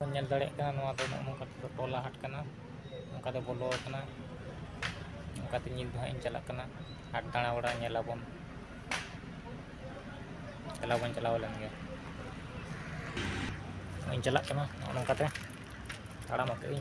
ᱧᱮᱞ ᱫᱟᱲᱮᱭᱟᱜ ᱠᱟᱱᱟ ᱱᱚᱣᱟ ᱫᱚ ᱱᱚᱜᱼᱚ ᱱᱚᱝᱠᱟ ᱛᱮᱫᱚ ᱴᱚᱞᱟ ᱦᱟᱴ ᱠᱟᱱᱟ ᱱᱚᱝᱠᱟ ᱛᱮ ᱵᱚᱞᱚ ᱟᱠᱟᱱᱟ ᱱᱚᱝᱠᱟ ᱛᱮ ᱧᱤᱫᱟᱹ ᱦᱟᱸᱜ ᱤᱧ ᱪᱟᱞᱟᱜ ᱠᱟᱱᱟ ᱦᱟᱴ ᱫᱟᱬᱟ ᱵᱟᱲᱟ ᱧᱮᱞ ᱟᱵᱚᱱ ᱪᱟᱞᱟᱣ ᱵᱚᱱ ᱪᱟᱞᱟᱣ ᱞᱮᱱ ᱜᱮ ᱤᱧ ᱪᱟᱞᱟᱜ ᱠᱟᱱᱟ ᱱᱚᱜᱼᱚ ᱱᱚᱝᱠᱟ ᱛᱮ ᱛᱟᱲᱟᱢ ᱟᱠᱟᱫ ᱟᱹᱧ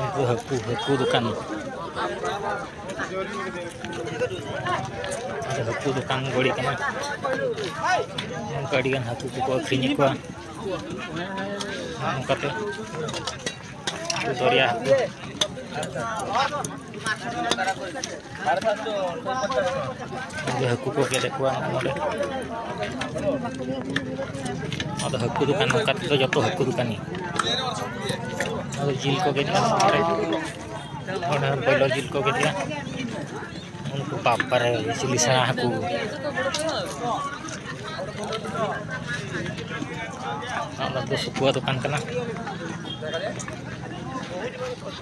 ᱩᱱᱠᱩ ᱦᱟᱹᱠᱩ ᱦᱟᱹᱠᱩ ᱫᱚᱠᱟᱱ ᱦᱟᱹᱠᱩ ᱫᱚᱠᱟᱱ ᱜᱚᱲᱤ ᱠᱟᱱᱟ ᱱᱚᱝᱠᱟ ᱟᱹᱰᱤᱜᱟᱱ ᱦᱟᱹᱠᱩ ᱠᱚᱠᱚ ᱟᱹᱠᱷᱨᱤᱧᱮᱫ ᱠᱚᱣᱟ ᱱᱚᱝᱠᱟᱛᱮ ᱫᱚᱨᱭᱟ ᱦᱟᱹᱠᱩ ᱦᱟᱹᱠᱩ ᱠᱚ ᱜᱮᱞᱮᱫ ᱠᱚᱣᱟ ᱱᱚᱰᱮ ᱟᱫᱚ ᱦᱟᱹᱠᱩ ᱫᱚᱠᱟᱱ ᱱᱚᱝᱠᱟ ᱛᱮᱫᱚ ᱡᱚᱛᱚ ᱦᱟᱹᱠᱩ ᱫᱚᱠᱟᱱ ᱜᱮ ᱟᱫᱚ ᱡᱤᱞ ᱠᱚ ᱜᱮᱫ ᱱᱚᱰᱮ ᱱᱚᱰᱮ ᱵᱚᱭᱞᱚᱨ ᱡᱤᱞ ᱠᱚ ᱜᱮᱫ ᱩᱱᱠᱩ ᱵᱟᱯᱟᱨᱮ ᱪᱤᱞᱤ ᱥᱮᱬᱟ ᱦᱟᱹᱠᱩ ᱟᱫᱚ ᱥᱩᱠᱩᱣᱟᱜ ᱫᱚᱠᱟᱱ ᱠᱟᱱᱟ